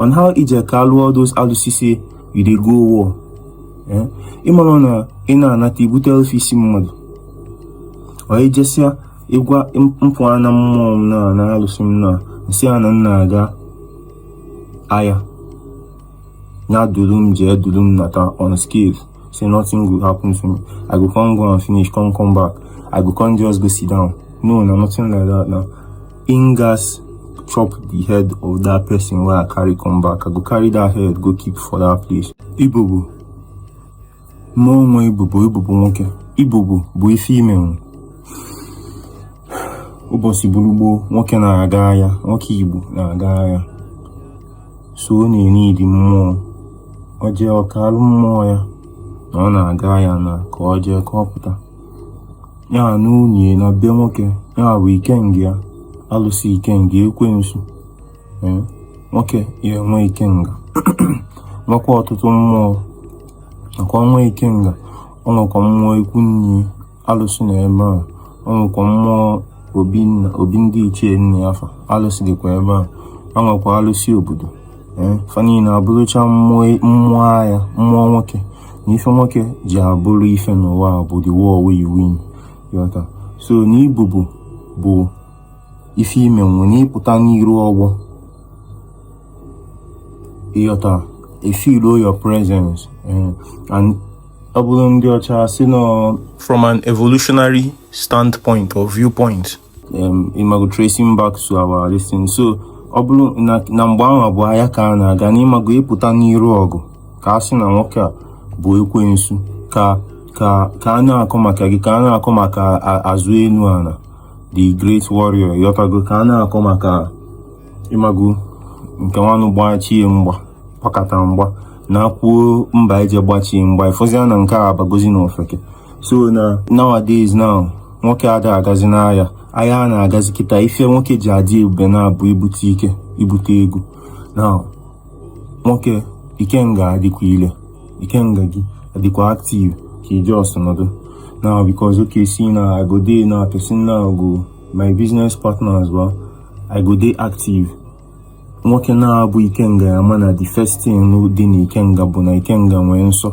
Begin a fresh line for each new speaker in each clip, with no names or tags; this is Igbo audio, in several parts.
on how ị je kaalụ all those alụsị say you dey go war eh? ịmara na ị na-anata ibute ofu isi mmadụ ọ ijesịa ịgwa mpụ na mmụọ m na na alụsị m na m sị ya na m na-aga aya na duru m jee duru m nata unscathed say nothing will happen to me i go come go and finish come come back i go come just go sit down no na nothing like that na im gats chop the head of that person wey i carry come back i go carry that head go keep for that place ibobo mmụọ nwe ibobo ibobo nwoke ibobo bụ ife ime nwe ụbọchị bụrụ gboo nwoke na-aga aya nwoke igbo na-aga aya so ọ na-eneed mmụọ ọ jee ọ kaalụ mmụọ ya na ọ na-aga aya na ka ọ jee ka ọ pụta ya na nwunye na be nwoke ya bụ ikenga ya alụsị ikenga ekwensu eh, nwoke ya-enwe ikenga nwekwa ọtụtụ mmụọ nakwa nwe ikenga ọ nwekwa mmụọ ikwu nne alụsị na ebe a ọ nwekwa mmụọ obi ndị ichie nna ya fa alụsị dịkwa ebe a ọ nwekwa alụsị obodo eh, fa niile abụrụcha mmụọ aya mmụọ nwoke na ife nwoke ji abụrụ ife n'ụwa bụ the war wey you win ịghọta so na ibobo bụ ife ime nwe na ịpụta n'iru ọgbọ ịghọta e feeluo your presence eh, and ọ bụrụ ndị ọcha si nọ from an evolutionary standpoint or viewpoint um, ịmago tracing back to our this thing so ọ bụrụ na mgbe ahụ a bụ aya ka a na-aga na ịmago ịpụta n'iru ọgụ ka a sị na nwoke a bụ ekwensu ka ka ka a na-akọ maka gị ka a na-akọ maka azụ elu ana the great warrior ịghọtago ka a na-akọ maka ịmago nke nwanụ gbachie mgba gbakata mgba na kwuo mba eje gbachie mgba ịfụzia na nke a abagozi na ofeke so na nowadays now nwoke ada agazi n'aya aya a na-agazi kịta ife nwoke ji adị ebube na-abụ ibute ike ibute ego na nwoke ikenga adịkwa ile ikenga gị adịkwa active ka ị just nọdụ na because okay see now i go dey na person na go my business partners well i go dey active nwoke na-abụ ikenga ya mana the first thing dị na ikenga bụ na ikenga nwee nsọ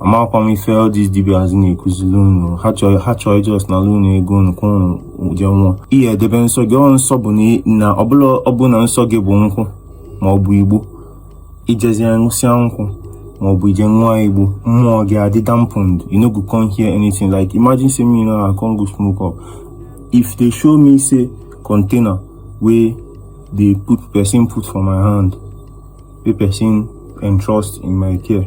amakwa m ife all these dibias na-akuzili unu ha chọọ ị just nalụ unu ego unu ka unu jee nwụọ ihe edebe nsọ gị ọ nsọ bụ na ọ bụlụ na ọ bụlụ na nsọ gị bụ nkwụ ma ọ bụ igbo i jezie ṅụsịa nkwụ ma ọ bụ i je ṅụa igbo mmụọ gị adị dampened you no go come hear anything like imagine say me now I come go smoke up if they show me say container wey dey put person put for my hand wey person entrust in my care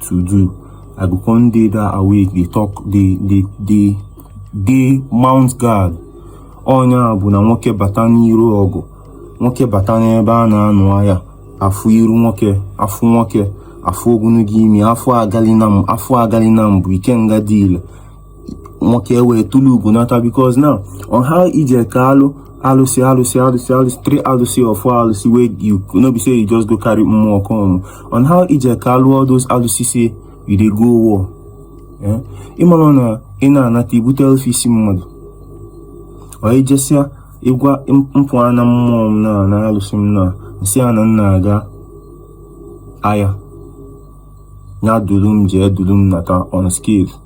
to do i go come dey that awake dey talk dey dey dey dey mount guard ọ nya bụ na nwoke bata n'iru ọgụ nwoke bata n'ebe a na-anụ aya afụ iru nwoke afụ nwoke afụ ogologo imi afụ agali na m afụ agali na mbụ ikenga dị ile nwoke ewee tụlụ ugo nata because na on how i ji kalụ alụsị alụsị alụsị alụsị three alụsị or four alụsị wey you no be say you just go carry mmụọ come on how i ji kalụ all those alụsị say you dey go war eh? ị mara na ị na-anata i bute ofu isi mmadụ ọ i jesịa ị gwa mpụ na mmụọ m na na alụsị m na m sị a na m na-aga aya ya dulu m jee dulu m nata unscathed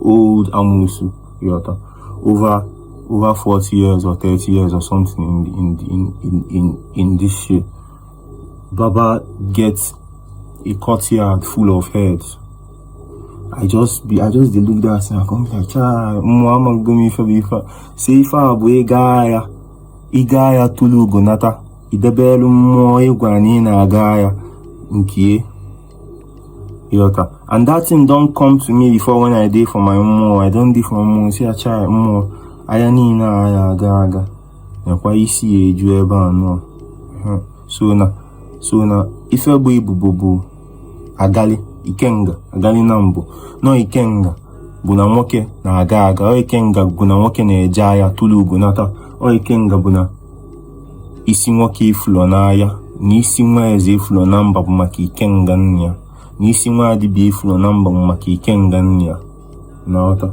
old amusu you understand over over 40 years or 30 years or something in the, in, the, in, in, in, in this shit baba get a courtyard full of heads I just be I just dey look that thing I come be like chai mụ amago m ife bụ ife a sị ife a bụ ịga aya ị gaa aya tụlụ ugo nata i debelu mmụọ ị gwara na ị na-aga aya nke you understand and that thing don come to me before when i dey for my mmụọ i don dey for my mmụọ say chai mmụọ aya niile a ya aga aga nekwa isi ya eju ebe a nọ so na so na ife bụ ibobo bụ agali ikenga agali na mbụ na ọ ikenga bụ na nwoke na-aga aga ọ ikenga bụ na nwoke na-eje aya tụlụ ugo nata ọ ikenga bụ na isi nwoke efulọ n'agha na isi nwa eze efulọ na mba bụ maka ikenga nna ya na isi nwa dibịa efulọ na mba bụ maka ikenga nna ya you understand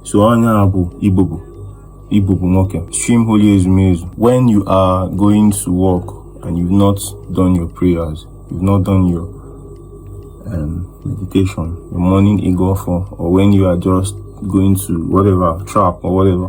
so ọ nya bụ ibobo ibobo nwoke stream holy ezumezu when you are going to work and you've not done your prayers you've not done your um, meditation your morning ịgọ ọfọ or when you are just going to whatever trap or whatever